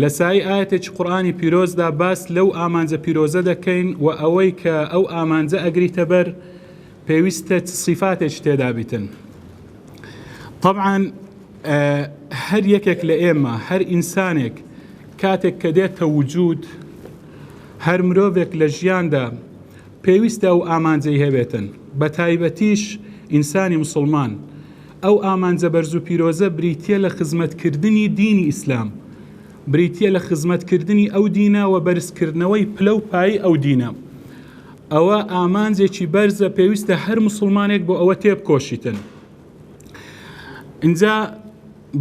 لە سایەی ئایەتێکی قورئانی پیرۆزدا باس لەو ئامانجە پیرۆزە دەکەین و ئەوەی کە ئەو ئامانجە ئەگریتە بەر پێویستە چ سیفاتێکی تێدا بیتن طبعاً هەر یەکێک لە ئێمە هەر ئینسانێک کاتێک کە دێتە وجود هەر مرۆڤێک لە ژیاندا پێویستە ئەو ئامانجەی هەبێتن بە تایبەتیش ئینسانی مسلمان ئەو ئامانجە بەرز و پیرۆزە بریتیە لە خزمەت کردنی دینی ئیسلام، بریتیە لە خزمەت کردنی ئەو دینە وە بەرز کردنەوەی پلە و پایەی ئەو دینە. ئەوە ئامانجێکی بەرزە پێویستە هەر موسڵمانێک بۆ ئەوە تێبکۆشیتن. ئینجا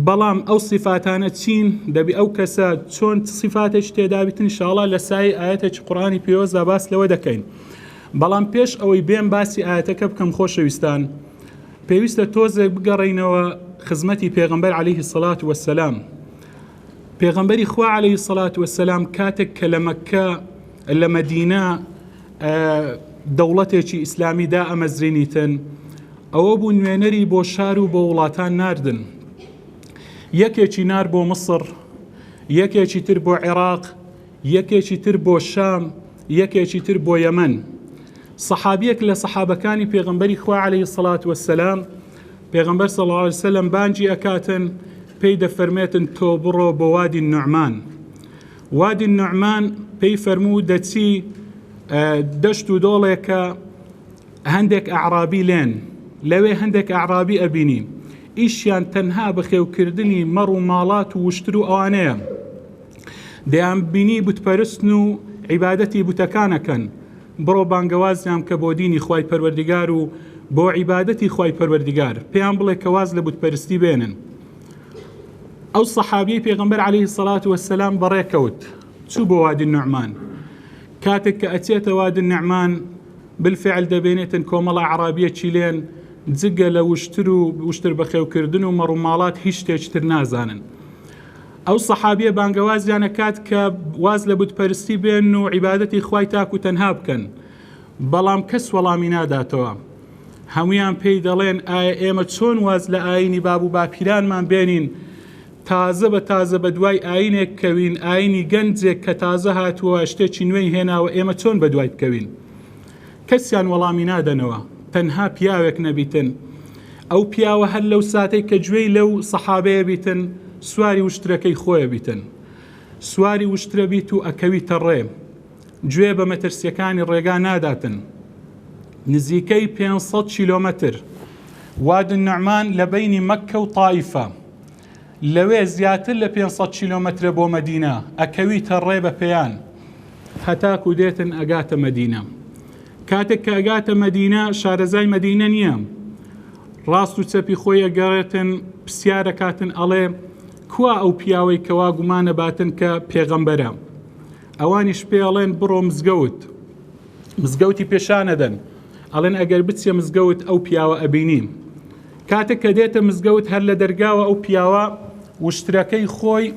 بەڵام ئەو سیفاتانە چین دەبی ئەو کەسە چۆن سیفاتێک تێدابیتن انشاءاللە لە سای ئاەتێکی قڕانی پیرۆزدا باس لەوە دەکەین. بەڵام پێش ئەوەی بێم باسی ئاەتەکە بکەم خۆشەویستان. پێویستە تۆزێک بگەڕێینەوە خزمەتی پێغەمبەر عەلەیهی سەڵات وەسەلام پێغەمبەری خوا عەلەیهی سەڵات وەسەلام کاتێک کە لە مەککە لە مەدینە دەوڵەتێکی ئیسلامی دا ئەمەزرینیتن ئەوە بوو نوێنەری بۆ شار و بۆ وڵاتان ناردن یەکێکی نار بۆ مصر یەکێکی تر بۆ عێراق یەکێکی تر بۆ شام یەکێکی تر بۆ یەمەن سەحابیەک لە سەحابەکانی پێغمبەری خوا عليه سڵات وسلام پێغمبەر سەڵسلم بانجی ئەکاتن پێی دەفەرمێتن تۆ بڕۆ بۆ وادی نوعمان وادی نوعمان پێی فەرموو دەچی دەشت و دۆڵێکە هەندێک ئەعرابی لێن لەوێ هەندێک ئەعرابی ئەبینی ئیشیان تەنها بەخێوکردنی مەڕ و ماڵات و وشتر و ئەوانەیە دەیانبینی بتپەرستن و عیبادەتی بتەکان ئەکەن، بڕۆ بانگەوازیان بکە بۆ دینی خوای پەروەردگار و بۆ عیبادەتی خوای پەروەردگار، پێیان بڵێ کە واز لە بتپەرستی بێنن. ئەو سەحابیەی پێغەمبەر عەلەیهی الصلوة والسلام بەڕێکەوت چوو بۆ وادی النعمان، کاتێک کە ئەچێتە وادی النعمان بالفعل دەبێنێتن کۆمەڵە ئەعرابیە چیلێن جگە لە وشتر و وشتر بەخێوکردن و مەڕوماڵات هیچ شتێکی تر نازانن. ئەو سەحابیە بانگەوازیان ئەکات کە واز لە بت پەرستی بێن و عیبادەتی خوای تاک و تەنها بکەن بەڵام کەس وەڵامی ناداتەوە هەمویان پێی دەڵێن ئایا ئێمە چۆن واز لە ئاینی باب و باپیرانمان بێنین تازە بە تازە بە دوای ئاینێک کەوین ئاینی گەنجێک کە تازە هاتووە شتێکی نوێی هێناوە ئێمە چۆن بە دوای بکەوین کەسیان وەڵامی نادەنەوە تەنها پیاوێک نەبیتن ئەو پیاوە هەر لەو ساتەی کە گوێی لەو سەحابەیە بیتن سواری وشترەکەی خۆیە بیتن سواری وشترە بیت و ئەکەویتە ڕێ گوێ بە مەترسیەکانی ڕێگا ناداتن نزیکەی 500 کیلۆمەتر وادن نعمان لە بینی مەککە و تایفە لەوێ زیاتر لە پێنج سەد کیلۆمەترە بۆ مەدینە، ئەکەویتە ڕێ بە پێیان. هەتاکو دێتن ئەگاتە مەدینە. کاتێک کە ئەگاتە مەدینە، شارەزای مەدینە نییە. ڕاست و چەپی خۆی ئەگەڕێتن، پرسیار ئەکاتن ئەڵێ، کوا ئەو پیاوەی کە وا گومان ئەباتن کە پێغەمبەرە؟ ئەوانیش پێ ئەڵێن بڕۆ مزگەوت. مزگەوتی پێشان ئەدەن. ئەڵێن ئەگەر بچیە مزگەوت ئەو پیاوە ئەبینی. کاتێک کە دێتە مزگەوت هەر لە دەرگاوە ئەو پیاوە وشترەکەی خۆی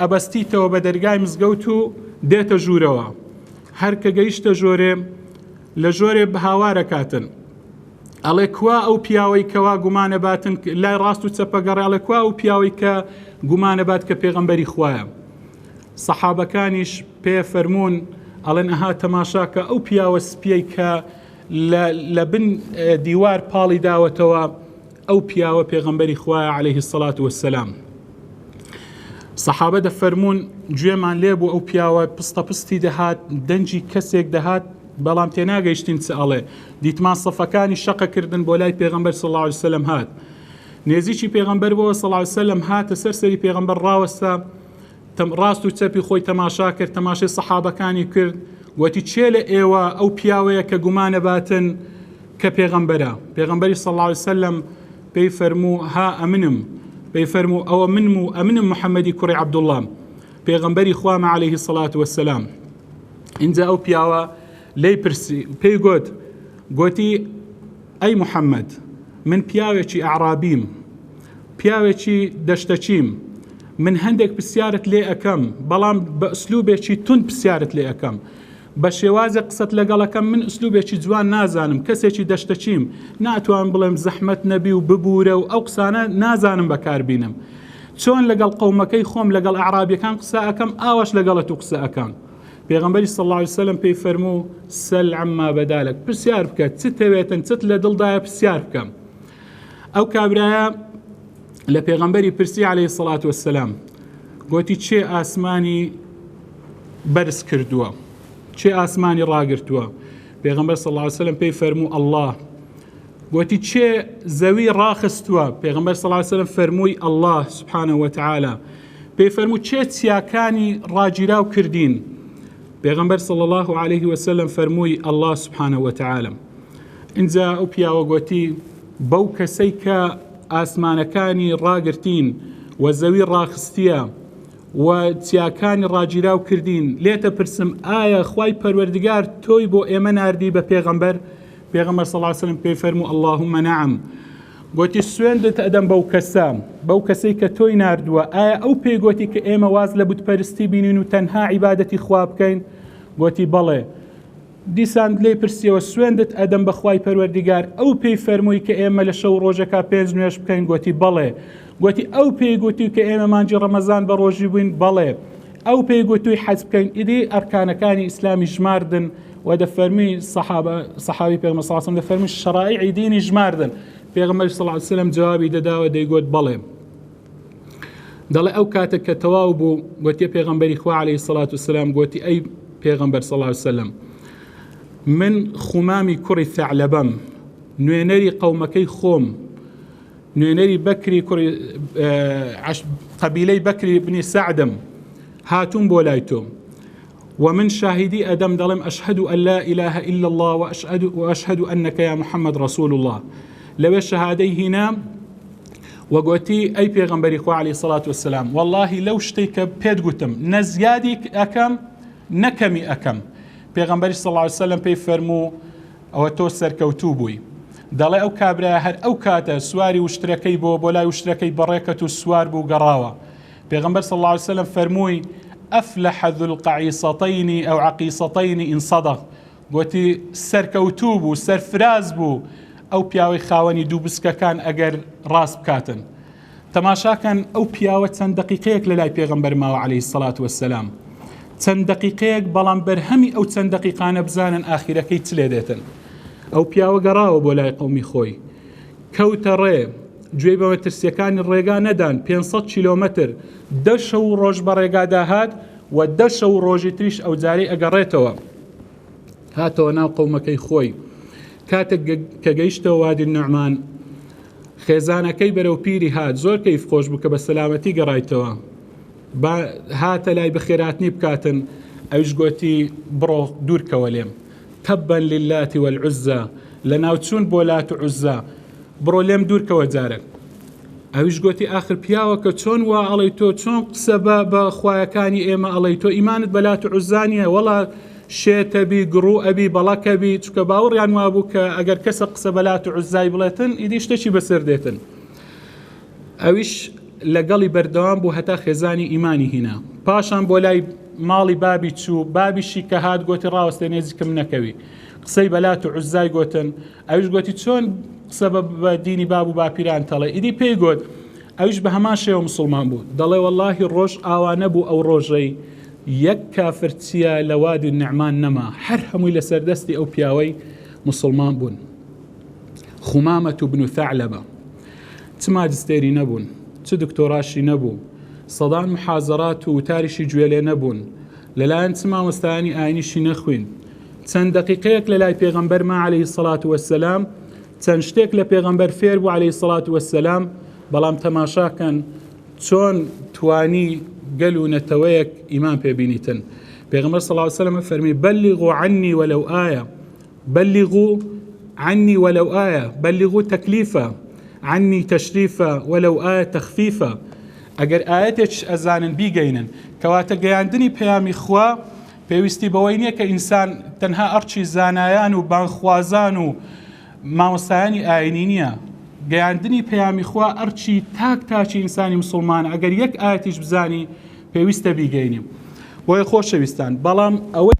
ئەبەستیتەوە بە دەرگای مزگەوت و دێتە ژوورەوە هەر کە گەیشتە ژۆرێ لە ژۆرێ بەهاوارە کاتن ئەڵێ کوا ئەو پیاوەی کەوا گومانە باتن لای ڕاست و چەپەگەڕێ ئەڵێ کوا ئەو پیاوەی کە گومانە بات کە پێغەمبەری خوایە سەحابەکانیش پێ فەرمونون ئەڵێن ئەها تەماشاکە ئەو پیاوە سپیەی کە لە لە بن دیوار پاڵی داوەتەوە ئەو پیاوە پێغەمبەری خوایە عليه الصلاة والسلام سەحابە دەفەرمونون گوێمان لێ بۆ ئەو پیاوە پستە پستی دەهات دەنجی کەسێک دەهات بەڵام تێناگەیشتین چ ئەڵێ دیتمان سەفەکانی شەقەکردن بۆ لای پێغمبەر سەڵاوسلم هات نێزیی پێغمبەر بۆ سەڵاوسلم هاتە سەر سەری پێغمبەر ڕاوەستا ڕاست و چەپی خۆی تەماشا کرد تەماشای سەحابەکانی کرد وتی چێ لە ئێوە ئەو پیاوەیە کە گومانە باتن کە پێغەمبەرە پێغەمبەری سەڵاوی سەلم پێی فەرموو ها ئەمنم پێی فەرموو ئەوە منم و ئەمنم محەممەدی کوڕی عبدوڵام پێغەمبەری خوامە عليهەیهی سەڵات وەسەسلام اینجا ئەو پیاوە لی پرسی پێی گوت گوتی ئەی محەمەد، من پیاوێکی ئەعرابیم، پیاوێکی دەشتەچیم، من هەندێک پرسیارت لێ ئەکەم، بەڵام بە ئسلوبێکی توند پرسیارت لێ ئەکەم، بە شێوازێک قسەت لەگەڵ ئەکەم، من ئسلوبێکی جوان نازانم، کەسێکی دەشتەچیم، ناتوانم بڵێم زەحمەت نەبی و ببورە و ئەو قسانە نازانم بەکار بینم، چۆن لەگەڵ قەومەکەی خۆم لەگەڵ ئەعرابیەکان قسە ئەکەم ئاواش لەگەڵ تو قسە ئەکەم. پێغەمبەری صلی اللە علیه وسلم پێی فەرموو سەل عما بەدالک پرسیار بکە چ تەوێتن چت لە دڵدایە پرسیار بکەم ئەو کابرایە لە پێغەمبەری پرسی عليه سڵات وسلام گوتی چێ ئاسمانی بەرز کردووە چێ ئاسمانی ڕاگرتووە پێغمبەر سەڵاسەلم پێی فەرموو ئەله گوتی چێ زەوی ڕاخستووە پێغمبەر سەڵاسەلم فەرمووی ئەله سبحانە وتعاالە پێی فەرموو چێ چیاکانی ڕاگیراو کردین پێغمبەر صلی الله عليه وسلم فەرمووی الله سبحانه وتعالى اینجا ئەو پیاوە گوتی بەو کەسەی کە ئاسمانەکانی ڕاگرتین و زەوی ڕاخستیە و چیاکانی ڕاگیراو کردین لێتە پرسم ئایا خی پەروەردگار تۆی بۆ ئێمە نردی بە پێغەمبەر پێغەمبەر سەڵاسلم پێی فەرمو اللهم نعم گۆتی، سوێندت ئەدەم بەو کەسە، بەو کەسەی کە تۆی ناردووە، ئایا ئەو پێی گۆتی کە ئێمە واز لە بت پەرستی بینین و تەنها عیبادەتی خوا بکەین؟ گۆتی، بەڵێ. دیسان لێی پرسیەوە، سوێندت ئەدەم بە خوای پەروەردیگار، ئەو پێی فەرمووی کە ئێمە لە شەو ڕۆژەکە پێنج نوێژ بکەین؟ گۆتی، بەڵێ. گۆتی، ئەو پێی گۆتی کە ئێمە مانگی ڕەمەزان بە ڕۆژی بووین؟ بەڵێ. ئەو پێی گوتووی حەج بکەن ئیدی ئەرکانەکانی ئیسلامی ژماردن و دەفەرمی صحابە صحابی پێغمبەر صلی الله دەفەرمی شرائعی دینی ژماردن پێغمبەر صلی الله وسلم جوابی دەداوە دەیگوت بەڵێ دەڵێ ئەو کاتە کە تەواو بوو گوتی پێغمبەری خوا عليه سلاات وسلام گوتی ئەی پێغمبەر صلی الله وسلم من خومامی کوڕی ثعلبەم نوێنەری قەومەکەی خۆم نوێنەری بەکری کوڕی قەبیلەی بەکری بنی سەعدم هاتووم بۆ لای تۆ ومن شاهدی ئەدەم دەڵێم ئەشهد و ئەللا ئیلاه إلا الله و ئەشهد و ئەنەکە یا محەممەد ڕسول الله لەوێ شەهادەی هینا وەگوتی ئەی پێغمبەری خوالی سەڵات وسلام واللهی لەو شتێک کە پێت گوتم نە زیادی ئەەکەم نەکەمی ئەەکەم پێغمبەری سەڵاوسلم پێی فەرموو ئەوە تۆ سەرکەوتوو بووی. دەڵێ ئەو کابرایە هەر ئەو کاتە سواری وشترەکەی بۆ بۆ لای وشترەکەی بەڕێ کەت و سوار بوو گەڕاوە. پێغەمبەر صلی اللە علیە وسلم فەرمووی، افلح ذو القعیصتین او عقیصتین ان صدق، گۆتی، سەرکەوتوو بوو، سەرفراز بوو، ئەو پیاوەی خاوەنی دوو بسکەکان ئەگەر ڕاست بکاتن. تەماشاکەن ئەو پیاوە چەند دەقیقەیەک لە لای پێغەمبەر ماوە علیە سەلات وەسەلام چەند دەقیقەیەک بەڵام بەرهەمی ئەو چەند دەقیقانە بزانن ئاخیرەکەی چ لێ دێتن ئەو پیاوە گەڕاوە بۆ لای قومی خۆی کەوتە ڕێ گوێی بەوە ترسیەکانی ڕێگا نەدان 500 کیلومتر دەشە و ڕۆژ بە ڕێگادا هات و دەشە و ڕۆژی تریش ئەو جارەی ئەگەڕێتەوە هاتەوە ناو قەومەکەی خۆی کاتێک کە گەیشتە وادی النعمان خێزانەکەی بەرەو پیری هات زۆر کەیف خۆش بوو کە بە سەلامەتی گەڕایتەوە هاتە لای بەخێراتنی بکاتن ئەوش گوتی بڕۆ دوورکەوە لێم تەبەن للاتی والعزا لە ناوچوون بۆ لات عزا بڕۆ لێم دوورکەوە جارێک ئەویش گوتی ئاخر پیاوەکە چۆن وا ئەڵی تۆ چۆن قسە بە بە خویەکانی ئێمە ئەڵی تۆ ئیمانت بەلات عزانیە وەڵا شێتەبی گڕوو ئەبی بەڵەکەبی چکە باوەڕیان وابوو کە ئەگەر کەسە قسە بەلات عزای بڵێتن ئیدی شتێکی بەسەر دێتن ئەویش لەگەڵی بەردەوام بوو هەتا خێزانی ئیمانی هینا پاشان بۆ لای ماڵی بابی چوو بابیشی کە هات گوتی ڕاوەستێ نێزیکم نەکەوی قسەی بەلات و عزای گوتن ئەویش گۆتی چۆن قسە بە بە دینی باب و باپیران تەڵێ ئیدی پێی گۆت ئەویش بە هەمان شێوە مسلمان بوو دەڵێ واللهی ڕۆژ ئاوا نەبوو ئەو ڕۆژەی یەک کافر چیا لە وادی نعمان نەما هەر هەمووی لەسەر دەستی ئەو پیاوەی مسلمان بوون خومامەت و بن و ثعلبە چ ماجستێری نەبوون چ دکتۆراشی نەبوو سەدان محازەرات و وتاریشی گوێ لێ نەبوون لەلایەن چ مامۆستایانی ئاینیشی نەخوین چەند دەقیقەیەک لە لای پێغەمبەرما عەلەیهی سەڵات وەسەلام چەند شتێک لە پێغەمبەر فێر بوو عەلەیهی سەڵات وەسەلام بەڵام تەماشاکەن چۆن توانی گەل و نەتەوەیەک ئیمان پێبینیتن پێغەمبەر سەڵات وسلمە فەرمی بەلیغو عنی وەلەو ئایا بەلیغو عنی وەلەو ئایا بەلیغو تەکلیفە عنی تەشریفە وەلەو ئایا تەخفیفە ئەگەر ئاەتێکش ئەزانن بیگەینن کەواتە گەیاندنی پەیامی خوا پێویستی بەوەی نییە کە ئینسان تەنها ئەڕچی زانایان و بانگخوازان و مامۆستایانی ئاینی نییە گەیاندنی پەیامی خوا ئەرچی تاک تاچی ئینسانی مسلمانە ئەگەر یەک ئاەتیش بزانی پێویستە بیگەینیم بۆیە خۆشەویستان بەڵام ئەوەی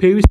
پێویست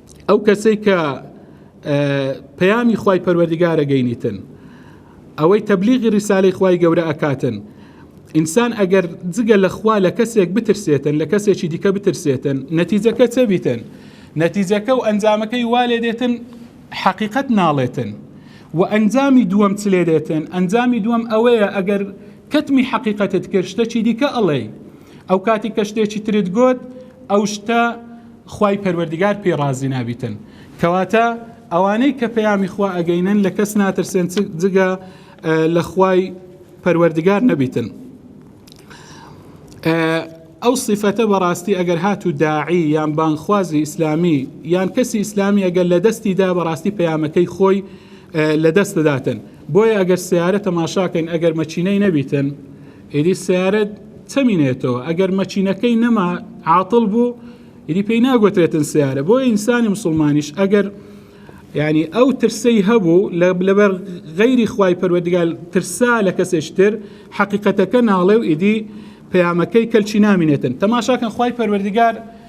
ئەو کەسەی کە پەیامی خوای پەروەردگارە گەینیتن ئەوەی تەبلیغی ڕیسالەی خوای گەورە ئەکاتن ئینسان ئەگەر جگە لە خوا لە کەسێک بترسێتن لە کەسێکی دیکە بترسێتن نەتیجەکە چە بیتن نەتیجەکە و ئەنجامەکەی والێ دێتن حەقیقت ناڵێتن و ئەنجامی دووەم چ لێ دێتن ئەنجامی دووەم ئەوەیە ئەگەر کەتمی حەقیقەتت کرد شتەکی دیکە ئەڵێی ئەو کاتی کە شتێکی ترت گوت ئەو شتە خوای پەروەردگار پێی ڕازی نابیتن کەواتە ئەوانەی کە پەیامی خوا ئەگەینن لە کەس ناترسێن جگە لە خوای پەروەردگار نەبیتن ئەو سیفەتە بەڕاستی ئەگەر هات و داعی یان بانخوازی ئیسلامی یان کەسی ئیسلامی ئەگەر لە دەستیدا بەڕاستی پەیامەکەی خۆی لە دەست دەداتن بۆیە ئەگەر سیارە تەماشاکەین ئەگەر مەچینەی نەبیتن ئیدی سەیارە چەمینێتەوە ئەگەر مەکینەکەی نەما عاتڵ بوو ئیدی پێی ناگوترێتن سیارە بۆ ئینسانی مسلمانیش ئەگەر یعنی ئەو ترسەی هەبوو لەبەر غەیری خوای پەروەردگار ترسا لە کەسێشتر حەقیقەتەکە ناڵێ و ئیدی پەیامەکەی کەلچی نامینێتن تەماشاکەن خوای پەروەردگار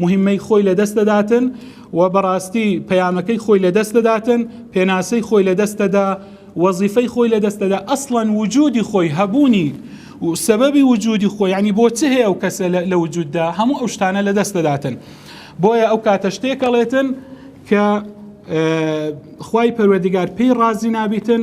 موهیمەی خۆی لەدەست دەداتن و بەڕاستی پەیامەکەی خۆی لەدەست دەداتن پێناسەی خۆی لەدەستەدا وەزیفەی خۆی لەدەستەدا ئەسڵەن وجودی خۆی هەبوونی و سەبەبی وجودی خۆی ینی بۆ چ هەیە ئەو کەسە لە وجوددا هەموو ئەو شتانە لەدەست دەداتن بۆیە ئەو کاتە شتێکەڵێتن کە خی پەروەردگار پێی ڕازی نابیتن